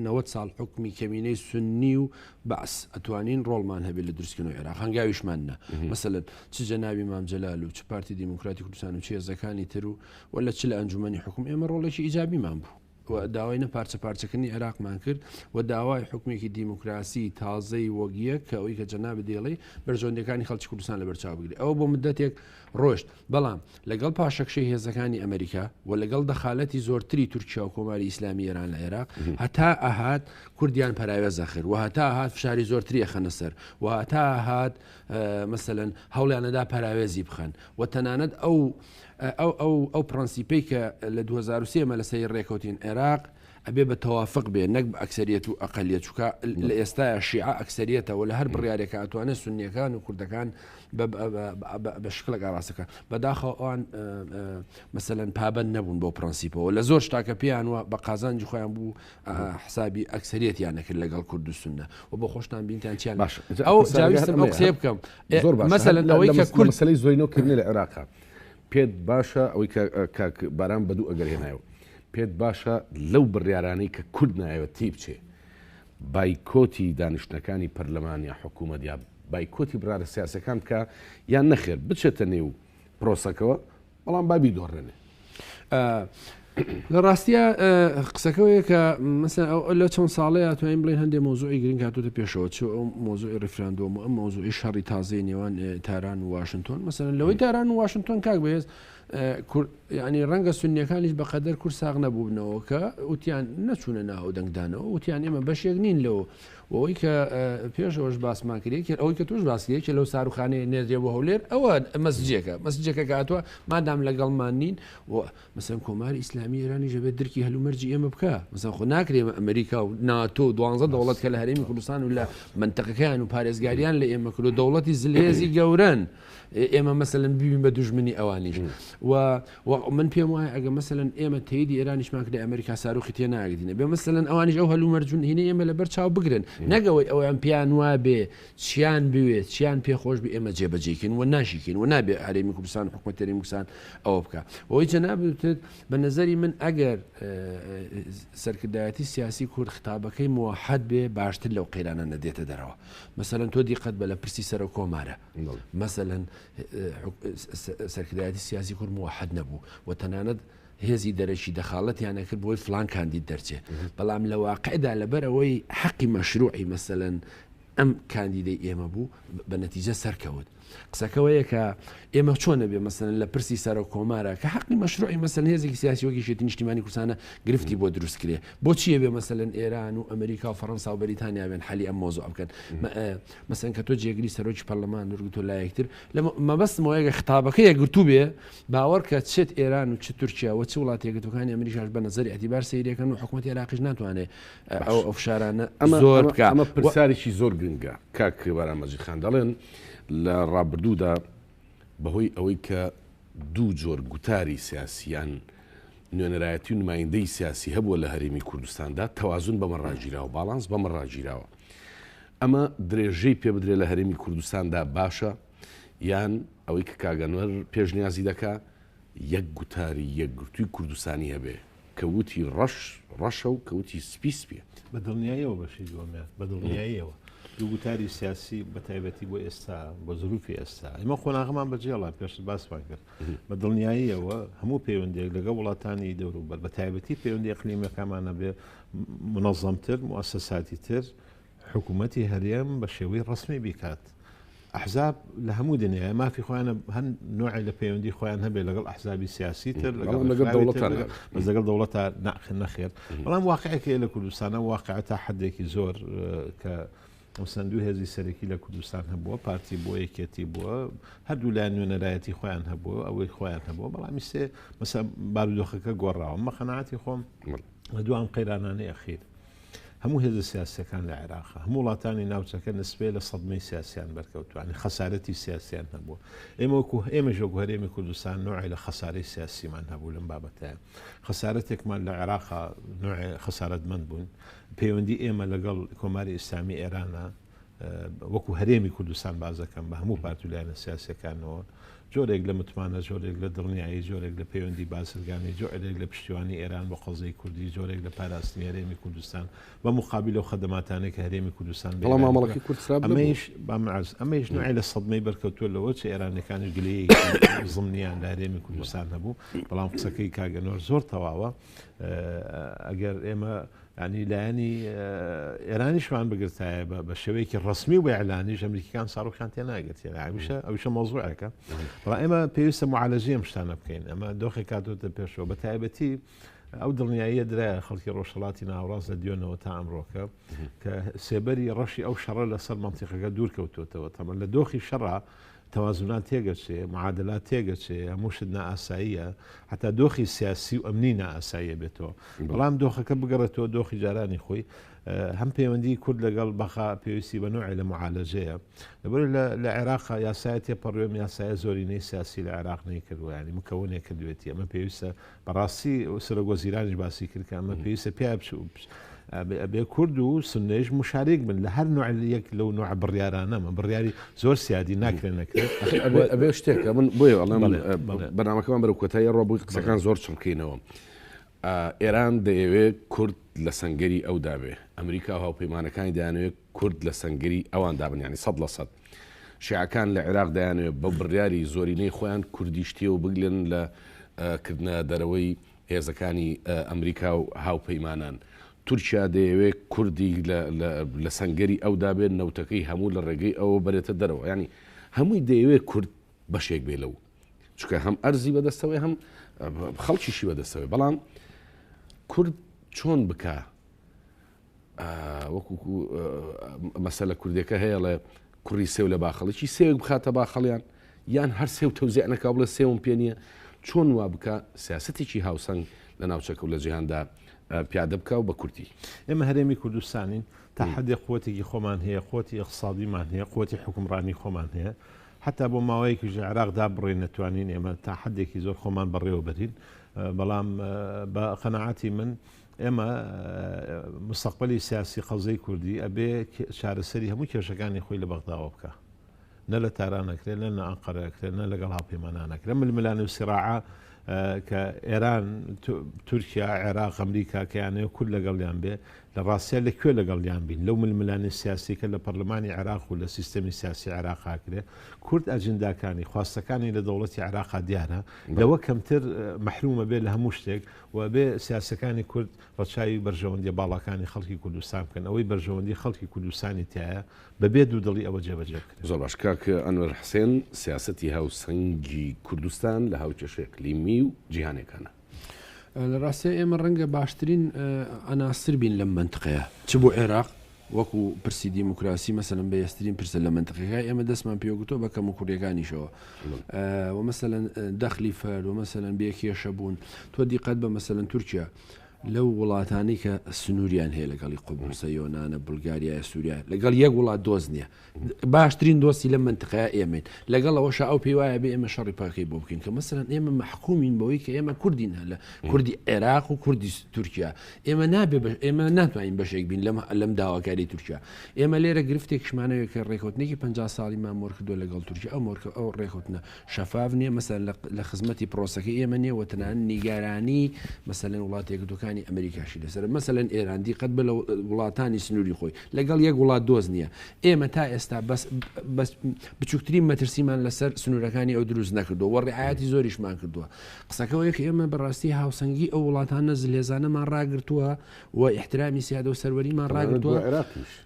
[SPEAKER 3] نەوەد ساڵ حوکمی کەمینەی سوننی و بەعس ئەتوانین ڕۆڵمان هەبێت لە دروستکردنەوەی عێراق هەنگاویشمان نا مەسەلەن چ جەنابی مام جەلال و چ پارتی دیموکراتی کوردستان و چ هێزەکانی تر و وە لە چ لە ئەنجومەنی حکوم ئێمە ڕۆڵێکی ئیجابیمان بوو و داوای نە پارچە پارچەکردنی عێراقمان کرد و داوای حکومێکی دیموکراسی تازەی وەک یەک کە ئەوی کە جەناب دێڵی بەرژەوەندەکانی خەڵکی کوردستان لە بەرچاو بگری ئەوە بۆ مدەتێک ڕۆشت بەڵام لەگەڵ پاشەکشەی هێزەکانی ئەمریکا و لەگەڵ دەخالەتی زۆرتری تورکیا و کۆماری ئیسلامی ئێران لە عێراق هەتا ئەهات کوردیان پەراوێز ئەخر و هەتا هاات فشاری زۆرتری خەنە سەر و هەتا هاات مەسەن هەوڵیانەدا پەراوێزی بخەن و تەنانەت ئەو ئەو ئەو ئەو پرەنسیپەی کە لە 2023 مە لەسەری ڕێکوتین عێراق ئەبێ بە تەوافق بێ نەک بە ئەکسەریەت و ئەقەلیەت چونکە لە ئێستایا شیعە ئەکسەریەتە وە لە هەر بڕیارێکا ئەتوانێ سوننیەکان و کوردەکان بە شکڵێک ئاراستە بکا بەداخەوە ئەوان مەسەلەن پابەند نەبوون بۆ پرەنسیپەوە لە زۆر شتاکە پێیان وە بە قازانجی خۆیان بوو حسابی ئەکسەریەتیان نەکرد لەگەڵ کورد و سنە و بۆ خۆشتان بینتان چیان باش ئەو جاویستم ئەو قسەیە بکەم زۆر باش مەسەلەن ئەوەی کە کورد مەسەلەی زۆینۆ کردنی لە
[SPEAKER 1] عێراقا پێت باشە ئەوەی کاک باران بەدوو ئەگەر هێنایەوە پێت باشە لەو بڕیارانەی کە کورد نایەوێت تیبچێ بایکۆتی دانیشتنەکانی پەرلەمان یا حکوومەت یا بایکۆتی بڕارە سیاسەکان بکە یان نەخێر بچێتە نێو پرۆسەکەەوە بەڵام بابی دۆڕێنێ
[SPEAKER 3] لە ڕاستە قسەکەەوەیە کە مەسە ئەو لە چەند ساڵەیە توانین بڵێن هەندێک مۆزوعی گرنگ هاتوتە پێشەوە چ ئەو مۆزوعی ریفراندۆم و ئەم مۆزوعی شەڕی تازەی نێوان تاران و واشنگتۆن مەسەن لەوەی تاران و واشنگتۆن کاک بەهێز یەعنی ڕەنگە سوننیەکانیش بەقەدەر کورد ساغ نەبووبنەوە کە وتیان نەچوونە نا ئەو دەنگدانەوە وتیان ئێمە بەشێک نین لەو وەوەی کە پێش ئەوش باسمان کرێ کرد ئەوەی کە توش باسیە کە لەو ساروخانەیە نێردێ بۆ هەولێر ئەوە مەسجێکە مەسجێکە کاتوە مادام لەگەڵمان نین و مەسەن کۆماری ئیسلامی ئێرانی ژەبێت درکی هەلومەرجی ئێمە بکە مەسەن خۆ ناکرێ ئەمریکا و ناتۆ دوانزە دەوڵەت کە لە هەرێمی کوردستان و لە منتەقەکەیان و پارێزگاریان لە ئێمە کرد و دەوڵەتی زلێزی گەورن. ئێمە مەسەن ببین بە دوژمنی ئەوانیش و من پێم وایە ئەگە مەسەن ئێمە تێدی ئێرانیشمان کرد ئەمریکا ساروخی تێ ناگرینە بێ مەسەن ئەوانیش ئەو هەلو مەرجون هینە ئێمە لەبەر چاو بگرن نەگەوەی ئەویان پیان وا بێ چیان بوێت چیان پێخۆش بە ئێمە جێبەجێکن و ناشیکن و نابێ هەرێمی کوردستان حکوومەتەری موسان ئەوە بکە ئەوەی جەنابێت بە نظری من ئەگەر سەرکردایەتی سیاسی کورد خطابەکەی موحد بێ باشتر لەو قەیرانە نەدێتە دەرەوە مەسەن تۆ دیقەت بە لە پرسی سەرۆک کۆمارە مەسەلەن سەرکردایەتی سیاسی کورد موحد نەبوو و تەنانەت هێزی دەرەکی دەخاڵەتیان ئەکرد بۆی فلان کاندید دەرچێت بەڵام لە واقعدا لەبەرەوەی حەقی مەشروعی مەسەن ئەم کاندیدەی ئێمە بوو بە نەتیجە سەرکەوت قسەکەەوەیە کە ئێمە چۆنە بێ مەسەن لە پرسی سەرە کۆمارە کە حەقی مەشروعی مەسەن هێزێکی سیاسیۆکیشێتی نیشتیمانی کوردستانە گرفتی بۆ دروست کرێ بۆچیە بێ مەسەن ئێران و ئەمریکا و فەرەنسا و بەریتانیاوێن حەلی ئەم مۆزۆ بکەن مەسەن کە تۆ جێگری سەرۆکی پەرلەمان نورگتۆ لایەکتر لە مەبەستمەوە یەگە خطابەکە یەکگرتوو بێ باوەڕکە چێت ئێران و چ تورکیا و چ وڵات یەکگرتوەکانی ئەمریکاش بە نظری ئەتیبار سەیرەکەن و حکوومەت عێراقیش ناتوانێ ئەو ئەو فشارانە ئەمە زۆر بکە ئەمە پرسیارێکی زۆر
[SPEAKER 1] گرنگە کاک بەرامەجی خان دەڵێن لە ڕابردوودا بەهۆی ئەوەی کە دوو جۆر گوتاری سیاسیان نوێنەرایەتی و نمایندەی سیاسی هەبووە لە هەرێمی کوردستاندا تەوازن بەمە ڕاگیرا و باڵانس بەمە ڕاگیراوە ئەمە درێژەی پێ بدرێ لە هەرێمی کوردستاندا باشە یان ئەوەی کە کاگەنەر پێشنیازی دەکا یەک گوتاری یەکگرتووی کوردستانی هەبێ کەوتی ڕەش ڕەشە و کەوتی سپی سپێت بە دڵنیاییەوە
[SPEAKER 2] بەشی دووەمیان بە دڵنیاییەوە دوو گوتاری سیاسی بە تایبەتی بۆ ئێستا بە زروفی ئێستا ئمە قۆناغمان بەجێڵا پێشت باسمان کرد بە دڵنیاییەوە هەموو پەیوەندێک لەگە وڵاتانی دەوروبەر بە تایبەتی پەیوەندی قلیمەکەمانە بێ منەظەمتر موسەساتی تر حکوومەتی هەرێم بە شێوەی ڕسمی بیکات. ئەحزاب لە هەموو دنیاە مافی خۆیانە هەن نوعی لە پەیوەندی خۆیان هەبێت لەگەڵ ئەحزابی سیاسی تر لەگەڵ لەگەڵ دەوڵەت ناخ نەخێر بەڵام واقعەکەی لە کوردستانە واقع تا حدێکی زۆر کە و چەند دوو هێزی سەرەکی لە کوردستان هەبووە، پارتی بووە، یەکێتی بووە، هەردوو لایەن نوێنەرایەتی خۆیان هەبووە، ئەوەی خۆیان هەبووە، بەڵام ئیستێ مەسە بارودۆخەکە گۆڕاوە. من بە قەناعەتی خۆم لە دوو ئەم قەیرانانەی ئەخیر هەموو هێزە سیاسییەکان لە عێراق، هەموو وڵاتانی ناوچەکە نسبەی لە سەدمەی سیاسییان بەرکەوتووە، یانی خەسارەتی سیاسییان هەبووە. ئێمە وەکوو ئێمەش وەکوو هەرێمی کوردستان نوعێ لە خەسارەی سیاسیمان هەبوو لەم بابەتەیە. خەسارەتێکمان لە عێراقا نوعێ خەسارەتمەند بووین. پەیوەندی ئێمە لەگەڵ کۆماری ئیسلامی ئێرانە وەکو هەرێمی کوردستان بازەکەم بە هەموو پارت و لایەنە سیاسەکانەوە جۆرێک لە متمانە جۆرێک لە دڵنیایی جۆرێک لە پەیوەندی بازرگانی جۆرێک لە پشتیوانی ئێران بۆ قەزەی کوردی جۆرێک لە پاراستنی هەرێمی کوردستان بە مقابل و خەدەماتانێک هەرێمی کوردستان بەڵام مامەڵکی
[SPEAKER 1] کوردسرابمەش بامعز
[SPEAKER 2] ئەمەش نوێ لە سەدمەی بەرکەوتوە لەوە چ ئێرانەکانی گلەیەکی زمنیان لە هەرێمی کوردستان هەبوو بەڵام قسەکەی کاگەنۆر زۆر تەواوە ئەگەر ئێمە ینی لایەنی ئێرانیشمان بگرتایە بە شێوەیەکی ڕسمی و بە ئەلانیش ئەمریکان ساڕوخان تێ ناگرێت ئاویشە ئەوشە مۆزوعەکە بە ئێمە پێویستە معالەجی ئەم شتانە بکەین ئەمە دۆخی کاتۆتە پێشەوە بە تایبەتی ئەو دڵنیاییە درا خەڵکی ڕۆژهڵاتی ناوڕاست لە دیۆنەوە تا ئەمڕۆکە کە سێبەری ڕەشی ئەو شەڕە لەسەر منتیقەکە دوور کەوتوتەوە تەمە لە دۆخی شەڕا تەوازونات تێگەچێ، معادلات تێگەچێ، هەموو شت نائاساییە، هەتا دۆخی سیاسی و ئەمنی نائاساییە بێتەوە. بەڵام دۆخەکە بگەڕێتەوە دۆخی جارانی خۆی، هەم پەیوەندیی کورد لەگەڵ بەغا پێویستی بە نوعێ لە معالەجەیە. لەبەر ئەوەی لە عێراقا یاسایە تێپەڕیوە، ئەم یاسایە زۆرینەی سیاسی لە عێراق نەیکردوە، یانی مکونێ کردوێتی، ئەمە پێویستە بەڕاستی سەرۆک وەزیرانیش باسی کرد کە ئەمە پێویستە پێ ئەبێ کورد و سنەیش مشارێک بن لە هەر نوعل یەک لەو نوع بڕیارانەمە بڕیاری زۆر سیادی ناکرێن نەکرێت ئەبێ شتێکە
[SPEAKER 1] من بۆی ئەڵێم بەنامەکەمان بەرە کۆتایی ڕۆ بووی قسەکان زۆر چڕکەینەوە ئێران دەیەوێت کورد لە سنگری ئەو دابێ ئەمریکا هاوپەیمانەکانی دانوێت کورد لە سنگری ئەوان دابنیانی سە لە سەد شیعەکان لە عێراق دەیانەوێت بە بڕیاری زۆرینەی خۆیان کوردیش تێوە بگلێن لە کردنە دەرەوەی هێزەکانی ئەمریکا و هاوپەیمانان. تورکیا دەیەوێت کوردی لە سەنگەری ئەودا بێت، نەوتەکەی هەموو لە ڕێگەی ئەوە بەرێتە دەرەوە. یانی هەمووی دەیەوێت کورد بەشێک بێت لەو. چونکە هەم ئەرزی بەدەستەوەی هەم خەڵکیشی بەدەستەوەی بەڵام کورد چۆن بکە وەکو مەسەلە کوردێکە هەیەڵێ کوڕی سێو لە باخەڵکی سێوێک بخاتە باخەڵیان یان هەر سێو تەوزیانەکە بڵێ سێوم پێ نییە چۆن وا بکە سیاستێکی هاوسەنگ لە ناوچەکە و لە جیهاندا پیادە بکە و بە کورتی ئێمە هەرێمی
[SPEAKER 2] کوردستانین تا حدێ قوتێکی خۆمان هەیە قوتی اقتصادیمان هەیە قوتی حکومڕانی خۆمان هەیە حتا بۆ ماوەیەکی ژە عراقدا بڕێ نەتوانین ئێمە تا حدێکی زۆر خۆمان بەڕێوەبەرین بەڵام بە قەنەعاتی من ئێمە مستەقبەلی سیاسی قەوزەی کوردی ئەبێ چارەسەری هەموو کێشەکانی خۆی لە بەغداوە بکا نە لە تاران ئەکرێ نە نە ئەنقەرە ئەکرێ نە لەگەڵ هاوپەیمانان ئەکرێ ململانێ و سیراعە کە ئێران تورکیا عێراق ئەمریکا کە یانەیە کورد لەگەڵیان بێ لە ڕاستە لە کوێ لەگەڵیان بین لەو ململانی سیاسیکە لە پەرلەمانی عێراق و لە سیستەمی سیاسی عێراقا کرێ کورد ئەجنداکانی خواستەکانی لە دەوڵەتی عێراقا دیارە لەوە کەمتر محرومە بێ لە هەموو شتێک و بێ سیاسەکانی کورد ڕەچاوی بەرژەوەندیە باڵاکانی خەڵکی کوردستان بکەن، ئەوەی بەرژەوەندی خەڵکی کوردستانی تیایە بە بێ دوو دڵی ئەوە جێبەجێ بکرێت. زۆر باش کاک ئەنوەر
[SPEAKER 1] حسێن، سیاسەتی هاوسەنگی کوردستان لە هاوکێشەی ئەقلیمی و جیهانیەکانا. لە
[SPEAKER 3] ڕاستیا ئێمە ڕەنگە باشترین عناصر بین لەم مەنتقەیە چ بۆ عێراق وەکو پرسی دیموکراسی مەسەلەن بەهێزترین پرسە لە مەنتقەکە ئێمە دەستمان پێوەگرتوە بە کەموکوڕیەکانیشەوە وە مەسەلەن دەخلی فەرد وە مەسەلەن بێ کێشە بوون تۆ دیقەت بە مەسەلەن تورکیا لەو وڵاتانی کە سنووریان هەیە لەگەڵی قوبوسە یۆناە بولگاریایە سووریا لەگەڵ یەک وڵات دۆست نییە باشترین دۆستی لەم مەنتقەیە ئێمەین، لەگەڵ ئەوەشا ئەو پێی وایە ئەبێ ئێمە شەڕی پاکەی بۆ بکەین، کە مەسەلەن ئێمە مەحکومین بەوەی کە ئێمە کوردین هەلە کوردی عێراق و کوردی تورکیا ئێمە نابێ بە ئێمە ناتوانین بەشێک بین لەم لەم داواکاری تورکیا ئێمە لێرە گرفتێکشمانەوە کە ڕێکوتنێکی 50 ساڵی مامۆر کردو لەگەڵ تورکیا ئەو مۆرکە ئەو ڕێکوتنە شەفاف نیە مەسەر لە خزمەتی پرۆسەکە ئێمە نیە وەتەنان نیگارانی مەسەلەن وڵاتێکردەکانی ئەمریکاشی لەسەر مەسەلەن ئێراندی قەت بە لە وڵاتانی سنووری خۆی لەگەڵ یەک وڵات دۆست نییە. ئێمە تا ئێستا بەس بەس بچووکترین مەترسیمان لەسەر سنوورەکانی ئەو دروست نەکردووە و ڕعایەتی زۆریشمان کردووە. قسەکەوەیەک ئێمە بەڕاستی هاوسەنگی ئەو وڵاتانە زلهێزانەمان ڕاگرتووە و ئیحترامی سیادە و سەروەریمان ڕاگرتووە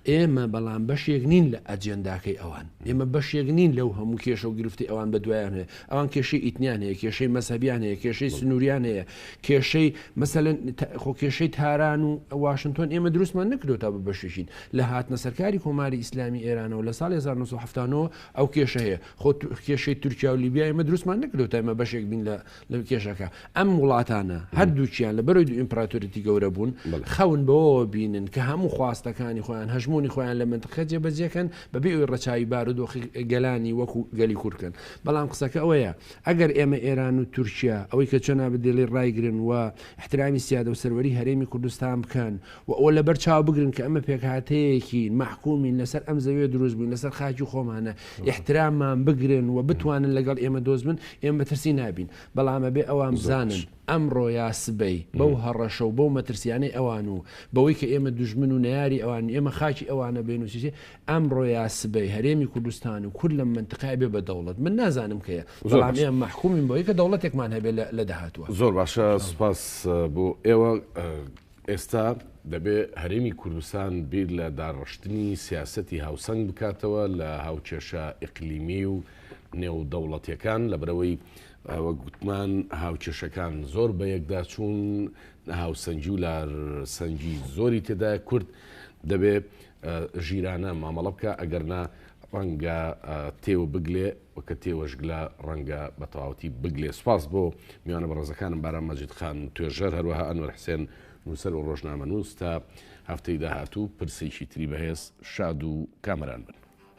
[SPEAKER 3] ئێمە بەڵام بەشێک نین لە ئەجێنداکەی ئەوان ئێمە بەشێک نین لەو هەموو کێشە و گرفتی ئەوان بە دوایان هەیە ئەوان کێشەی ئیتنیان هەیە کێشەی مەسەبیان هەیە کێشەی سنووریان هەیە کێشەی مەسەلەن خۆ کێشەی تاران و واشنتۆن ئێمە دروستمان نەکردو تا بە بەشێکین لە هاتنە سەرکاری کۆماری ئیسلامی ئێرانەوە لە ساڵی 1970ەوە ئەو کێشە هەیە خۆ کێشەی تورکیا و لیبیا ئێمە دروستمان نەکردو تا ئمە بەشێک بین لە لە کێشەکە ئەم وڵاتانە هەردووچیان لە بەرەوەی دو ئیمپراتوریتی گەورە بوون خەون بەوەوە بینن کە هەموو خواستەکانی خۆیان هەژمونی خۆیان لە منتقە جێبەجێکەن بەبێ ئەوی ڕەچوی بارودۆخی گەلانی وەکو گەلی کورکن بەڵام قسەکە ئەوەیە ئەگەر ئێمە ئێران و تورکیا ئەوەی کە جەنابت دەیڵێی ڕایگرن و ئیحترامی سیادە و سەروەری هەرێمی کوردستان بکەن و ئەوە لەبەر چاو بگرن کە ئەمە پێکهاتەیەکین مەحکومین لەسەر ئەم زەویە دروست بووین لەسەر خاکی خۆمانە ئیحتراممان بگرن و بتوانن لەگەڵ ئێمە دۆست بن ئێمە مەترسی نابین بەڵام ئەبێ ئەوان بزانن ئەمڕۆ یا سبەی بەو هەڕەشە و بەو مەترسیانەی ئەوان و بەوەی کە ئێمە دوژمن و نەیاری ئەوانین ئێمە خاکی ئەوانە بێنوسیچێ ئەمڕۆ یا سبەی هەرێمی کوردستان و کورد لەم مەنتقەیە بێ بە دەوڵەت من نازانم کەیە زۆر بەڵام باشە ئێمە مەحکومین بەوەی کە دەوڵەتێکمان هەبێ لە لە داهاتووە زۆر باشە ان شاء الله
[SPEAKER 1] سوپاس بۆ ئێوە ئێستا دەبێ هەرێمی کوردستان بیر لە داڕشتنی سیاسەتی هاوسەنگ بکاتەوە لە هاوکێشە ئیقلیمی و نێودەوڵەتیەکان لەبرەوەی وەک گوتمان هاوکێشەکان زۆر بە یەکدا چوون هاوسەنگی و لارسەنگی زۆری تێدایە کورد دەبێ ژیرانە مامەڵە بکە ئەگەرنا ڕەنگە تێوە بگلێ وەکە تێوەشگلە ڕەنگە بە تەواوەتی بگلێ سپاس بۆ میوانە بەڕێزەکانم باران مەجید خان توێژەر هەروەها ئەنوەر حسێن نووسەر و ڕۆژنامە نووس تا هەفتەی داهاتوو پرسێکی تری بەهێز شاد و کامەران بن.